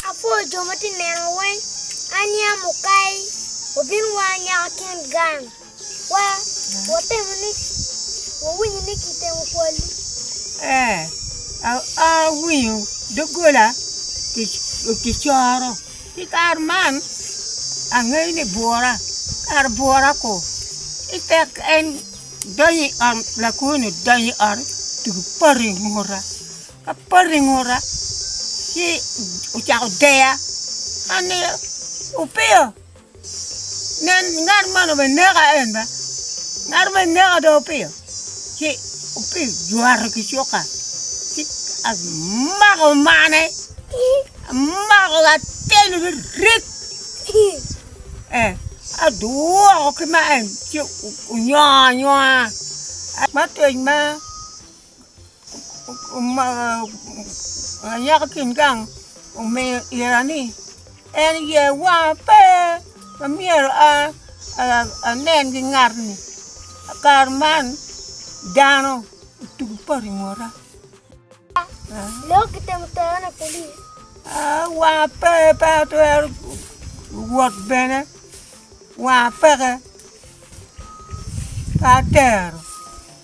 Apwoyo jo ma tye ka nena weng. Aniang mukai obin wa nyaka kin gang wa, watemo ni wawinyo ni kitemo kwalli. Ee, awinyo doggola kicoro. I kare man angeyo ni bwora, kara bwora ko. Ci tek en donyo i ot, lakwono donyo i ot otugo patu i nguta. Apoto i nguta, ci ocako deya. An ni, Opiyo, nen, ngat man obene neka en ba. Ngat obene neka dong Opiyo. Ci Opiyo jwato ki cuka, ci amako mane, amako atelo ni rik, eh, adwoko ki ma en, ci onyoo anywa. Matwec ma. Anyaka ki in gang omiyo ira ni en ye wanga pe ma myero anen ki ngat-ni, i kare man dano otugo poto i ngota. Wanga pe pe atwero wot bene wanga peke pe atero.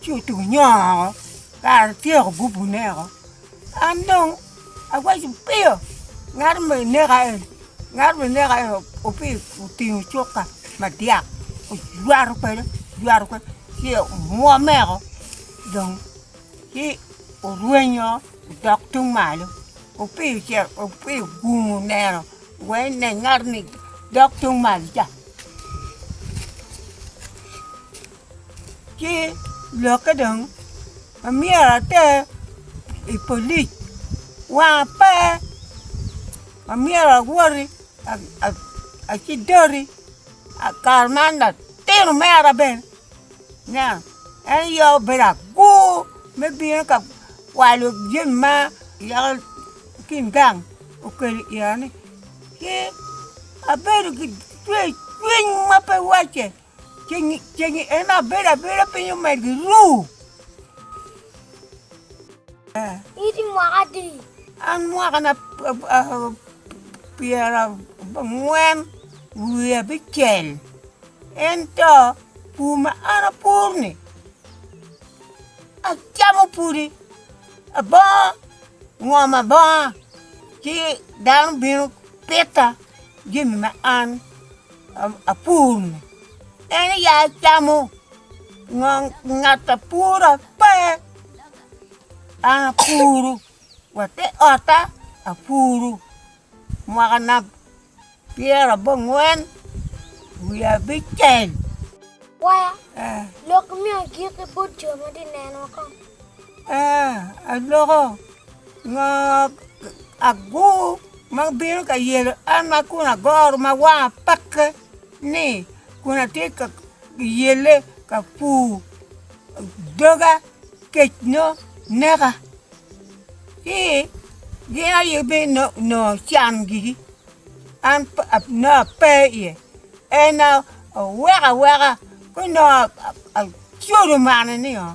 Ci otugo nyonga woko, kara atyeko gubune woko. An dong awaco piyo, ngat ma ineka en, ngat ma ineka en opiyo otingo cukka madyak ojwato kwede, ojwato kwede ci omwome woko dong ci orwenyo odok tung malo. Opiyo ce opiyo ogungu oneno wai ne ngat-ni dok tung malo ca. Ci lokke dong amyero ater i polic, wanga pe amyero awoti aci doti kare ma an latino mera bene nen en aye obedo agur me bino ka kwalo jami ma yako kin gang okelo i kine-ni, ci abedo ki cwecwiny ma pe wacce. Ceng i en abedo abeda piny omed gi ru. Iti mwaka di? An mwaka na pyera ngwen wiye abicel. Ento pur ma an apur ni acamo pudi, abongo ngom abonga ci dano bino pita jami ma an. apur-ni, en i ya camo ngong ngat a pura pe, an apuru wa te ot-ta apuru mwaka na pyera abongwen wiya abicel Kwaya, lok imiyo agik ki bot jo ma tye ka neno woko. Aa, aloko ngo agur. ma bino ka yelo an ma kun agoro ma wanga pakke ni kun atye ka yelle ka pur doga kec nongo neka ci gin aye bino nongo can gigi an pe nongo ape iye en aye oweko aweka ci nongo acodo mane ni oo.